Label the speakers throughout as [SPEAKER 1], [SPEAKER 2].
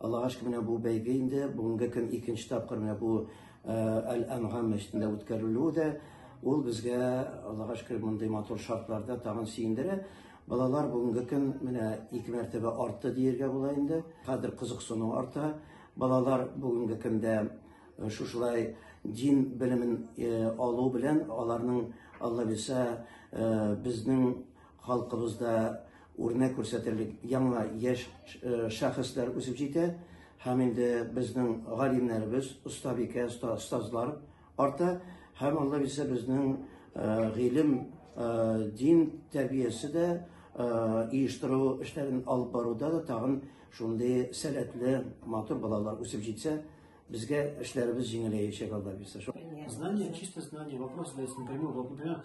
[SPEAKER 1] Аллага шөкер, менә бу бәйге инде бүгенге көн икенче тапкыр менә бу Әл-Әнгам мәчетендә үткәрелүе дә ул безгә, Аллага шөкер, мондый матур шартларда тагын сөендерә. Балалар бүгенге көн менә ике мәртәбә артты диергә була инде. Хәзер кызыксыну арта. Балалар бүгенге көндә шушылай дин белемен алу белән аларның Алла бирсә безнең Халкыбызда үрнәк күрсәтерлек яңа яшь шәхесләр үсеп җитә һәм инде безнең галимнәребез, остабикә, остазлар арта һәм Алла бирсә безнең гыйлем, дин тәрбиясе дә оештыру эшләрен алып баруда да тагын шундый сәләтле, матур балалар үсеп җитсә, безгә эшләребез җиңеләячәк Алла бирсә. Знание, чисто знание, вопрос
[SPEAKER 2] задается напрямую. Вот, например,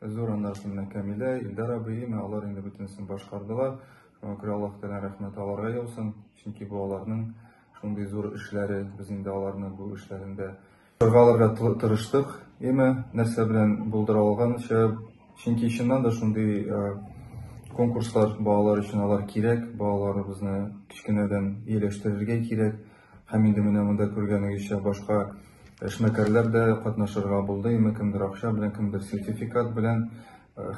[SPEAKER 3] Зур аннарсы менә Камилә, Илдар абый, имә алар инде бөтенесен башкардылар. Шуңа күрә Аллаһ Тәгалә рәхмәте аларга яусын. Чөнки бу аларның шундый зур эшләре, без инде аларны бу эшләрендә чоргаларга тырыштык. Имә нәрсә белән булдыра алганча, чөнки чыннан да шундый конкурслар балалар өчен алар кирәк, балаларыбызны кечкенәдән ияләштерергә кирәк. Һәм инде менә монда күргәнегезчә башка эшмәкәрләр дә катнашырга булды, имә кемдер акча белән, кемдер сертификат белән.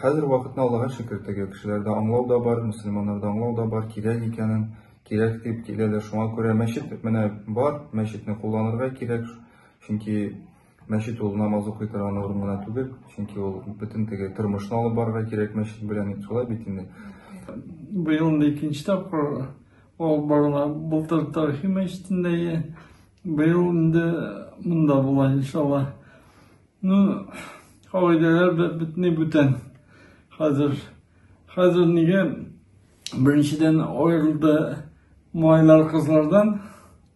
[SPEAKER 3] Хәзер вакытны Аллага шөкер, теге кешеләрдә аңлау да бар, мөселманнарда аңлау да бар, кирәк икәнен, кирәк дип киләләр, шуңа күрә мәчет менә бар, мәчетне кулланырга кирәк, чөнки Мәчет ул намаз укый торган урын гына түгел, чөнки ул бөтен теге тормышны алып барырга кирәк мәчет белән, шулай бит инде. Быел
[SPEAKER 4] инде икенче тапкыр алып барыла. Былтыр тарихи мәчетендә, быел инде монда була, иншалла. Ну, кагыйдәләр бөтенләй бүтән. Хәзер хәзер нигә беренчедән аерылды малайлар кызлардан,